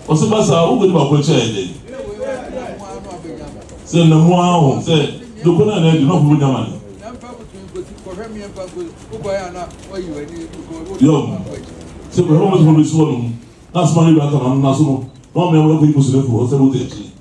ɔsɛ ba saa wokɔdi baako akyi ayɛ dɛn sɛ namu ara ho sɛ doko no ana adi na ɔfo bɛnya ma ne yɔm sɛ kɔhwɛ mo sɛ mobɛsi hɔ nom na asoma no bi aka no ano no so no na ɔmea mo akɔyi kɔsirɛfoɔ sɛ wode akyi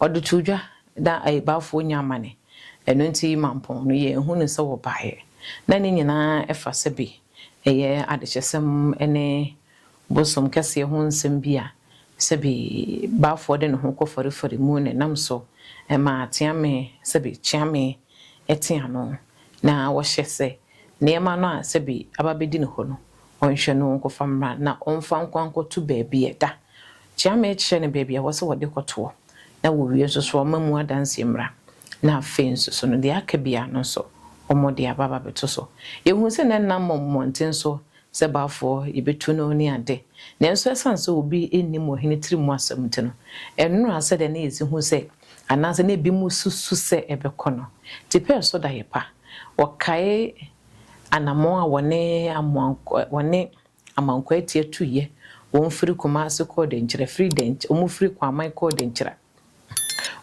Ɔde too dwa na ayibaafoɔ nya amane, ɛno nti mampɔn no yɛ hu no sɛ wɔbaeɛ. Na ne nyinaa ɛfa sɛ bi ɛyɛ adekyɛsɛm ne bosom kɛseɛ ho nsɛm bi a sɛbi baafoɔ de ne ho kɔ farefare mu na ɛnam so ma ateame sɛbi kyeame te ano na wɔhyɛ sɛ nneɛma no a sɛbi aba bɛdi ne hɔ no ɔnhwɛ no nkɔfa mmra na ɔmfa nkɔ ankɔto baabi a ɛda Kyea me kyerɛ no baabi a ɛwɔ sɛ wɔde kɔtoɔ, na wɔwie nso so wɔmma mu adanseɛ mmra, na afei nso so no deɛ aka biara no nso wɔde aba abɛto so. Yɛhunu sɛ na ɛnam mmɔnten so sɛ Baafoɔ yɛbɛtu no ne ade, nanso ɛsiane sɛ obi nnim ɔhene tiri mu asɛm nti no, ɛnnoraa sɛdeɛ na yɛsi hu sɛ anaasɛ na ebinom susu sɛ ɛbɛkɔ no. Tipɛɛ so daeɛ pa. Wɔkae anammɔn a wɔne Amoa wɔne. Amankwaatia tuiɛ, wɔn firi Kumasi kɔɔ Denkyira, firi Denky wɔn firi Kwaman kɔɔ Denkyira,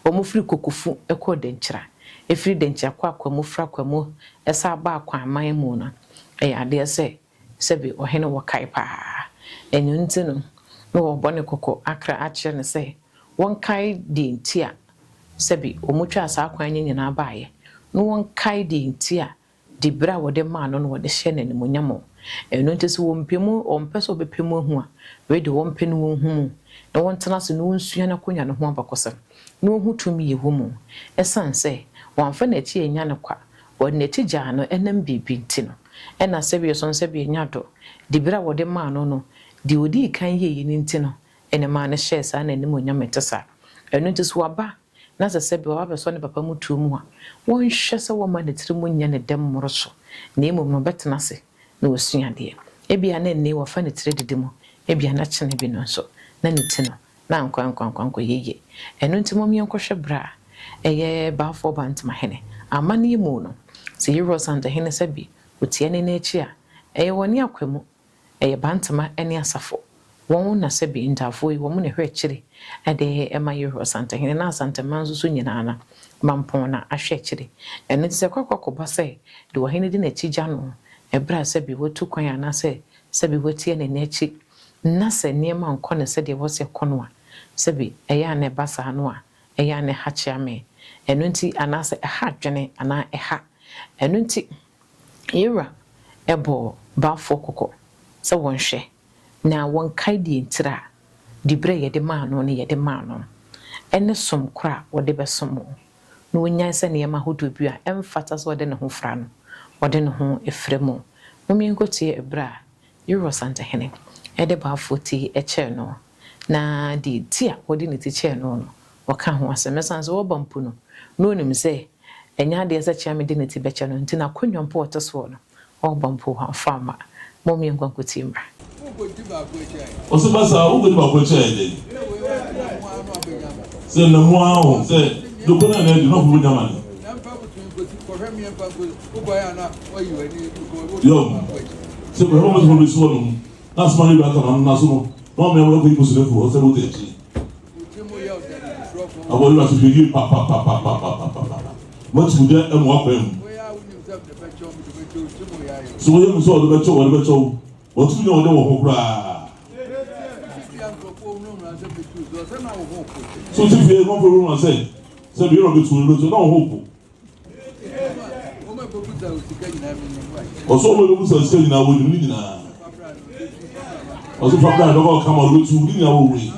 wɔn firi Kokufu kɔɔ Denkyira, ɛfiri Denkyira kɔ Akwamu, firi Akwamu san baa Kwaman mu no, ɛyɛ adeɛ sɛ sɛbi ɔhene wɔ kae paa. Ɛno nti no na wɔrebɔ no kɔkɔ akra akyerɛ no sɛ wɔnkae deɛ nti a sɛbi wɔtwaa saa kwan no nyinaa baeɛ, na wɔnkae deɛ nti a de bere a wɔde maa no no wɔde hyɛ no animuonyam o, ɛno nti sɛ wɔmpɛ mu, wɔmpɛ sɛ wɔbɛpɛ mu ahu a, wei deɛ wɔmpɛ na wɔnhu mu, na wɔntena ase na wɔnsua n'akonnwa no ho abakɔsɛm, na wɔnhu tumi a ɛwɔ mu, ɛsiane sɛ wɔamfa n'akyi annya no kwa, wɔde n'akyi gyaa no ɛnam biribi nti no, ɛna sɛdeɛ so no sɛdeɛ ɔnya dɔ, de bere a wɔde maa no no, deɛ ɔdii kan yɛeɛ no nti no, ɛna ɛmaa no hyɛɛ saa n'animuonyam a ɛte saa, ɛno nti sɛ wɔaba a. na sɛ sɛ bi a wabɛsɔ ne papa mu tuo mu a, wɔnhwɛ sɛ wɔmma ne tiri mu nyɛ ne dɛ mmoro so, na mmom no, ɔbɛtena ase na wasua adeɛ. Ebia na ɛnnɛ yi wɔfa ne tiri didi mu, ebia na kyene bi no nso, na ne ti no, na ankorankwankwankɔyɛ yie. Ɛno nti, mom yɛnkɔhwɛ berɛ a ɛyɛ Balfour Ba Ntomahene amanneɛ mu no, sɛ Yerosantohene Sabi ɔtia ne nan akyi a, ɛyɛ wɔ ne akwamu, Ɛyɛ Bantama ne Asafo. Wɔn na sɛ bi Ntafoe, wɔn na ɛhwɛ akyiri de ma Yehowa Asantehene na Asantehemman nso so nyinaa na Mampɔn na ahwɛ akyiri. Ɛno nti sɛ kwakwa kɔba sɛ de ɔhene di n'akyi gya no ɛberɛ a sɛ bi watu kwan anaasɛ sɛ bi watia n'ani akyi na sɛ nneɛma nkɔ no sɛdeɛ ɛwɔ sɛ ɛkɔ no a, sɛ bi ɛyɛ a na ɛba saa no a, ɛyɛ a na ɛha kyea me. Ɛno nti anaasɛ ɛha adwene anaa ɛha. Ɛno nti. Ye'Wura bɔɔ baafoɔ kɔkɔ sɛ wɔ'nhwɛ na wɔ'nkae deɛ ntira a, diberɛ a yɛde maa no no yɛde maa no, ɛne som korɔ a ɔde bɛsom wo, na wɔ'nyae sɛ nneɛma ahodoɔ bi a ɛmfata sɛ ɔde ne ho fra no, ɔde ne ho fra mu. Mommenkɔtie ɛberɛ a Yerɛ ɔsantehene de baafoɔ ti kyɛɛ noɔ, na deɛ nti a wɔde ne ti kyɛɛ noɔ no, wɔka ho asɛm. Na sane sɛ ɔba mpo no, na ɔnim sɛ ɛnyɛ adeɛ sɛ Kyeame de ne ti bɛkyɛ no, nti n'akonnwa mpo a ɔte soɔ no, ɔba mpo wɔamfa amma. Mom yɛnkɔ nkɔtie mmra. Ɔse basaa wo kɔdi baako akyɛ ayɛ dɛn? Sɛ namu aa ho sɛ doko na na adi na ɔfo bɛnya amane. Yom, sɛ mehɔ mo sɛ mɛsi wɔ no mu, na asoma ne bɛaka ma no naso no, na ɔmea mo akɔyi mo sene fo hɔ sɛ mo tɛkyi. Abɔ yira so hwɛ yie papapapapapapapa. Moakyi mo gya mo akwan mu. So wɔyɛ mu sɛ ɔde bɛkyɛw ɔde bɛkyɛw wɔto nya ɔde wɔ ho koraa. So ti fie mo fɛ wɔn sɛ sɛ bi yɛrɛ bɛ tu ɔde bɛtu na ɔho po. Ɔsɛ ɔma no busa sika nyinaa wɔnim ne nyinaa. Ɔsɛ fa bra dɔkɔ ɔka ma ɔbɛtu ne nyinaa wɔ wei.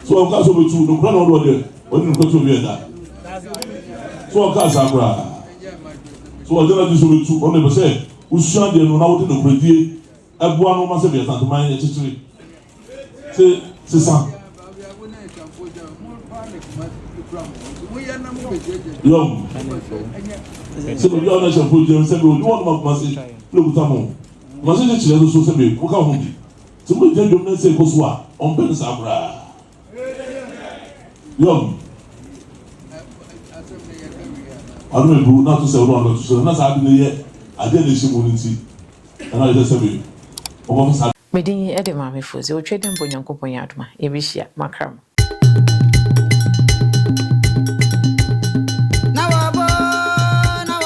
So ɔka sɛ ɔbɛtu no kora na ɔde ɔde ɔde no kɔtu obi ɛda. So ɔka saa koraa. So ɔde no adi sɛ ɔbɛtu ɔno ɛpɛ sɛ wosua deɛ no na wode nokorɛdie ɛboa no ma sɛdeɛ Asante man yɛ kyekyere te sesa. Yɔm sɛ baabi a wɔn ahyɛnfo gyina sɛ bɛ odi wɔn ma Kumasi na okuta mo Kumasi kyekyere nso so sɛ bɛ mo ka ho bi sɛ mo gyina dwom na nsa ekoso a wɔn pɛ ne saa koraa. yɔn ɔno na bu na to sɛ ɔno ɔno to sɛ na saa adi no yɛ adeɛ na ɛhyɛ mu no nti ɛna ɛsɛ sɛ me ɔbɛfa saa. Medin de Maame Fodze otwa dɛ mbrɛ Nyankopɔn yɛ adom a yebehyia makra mu.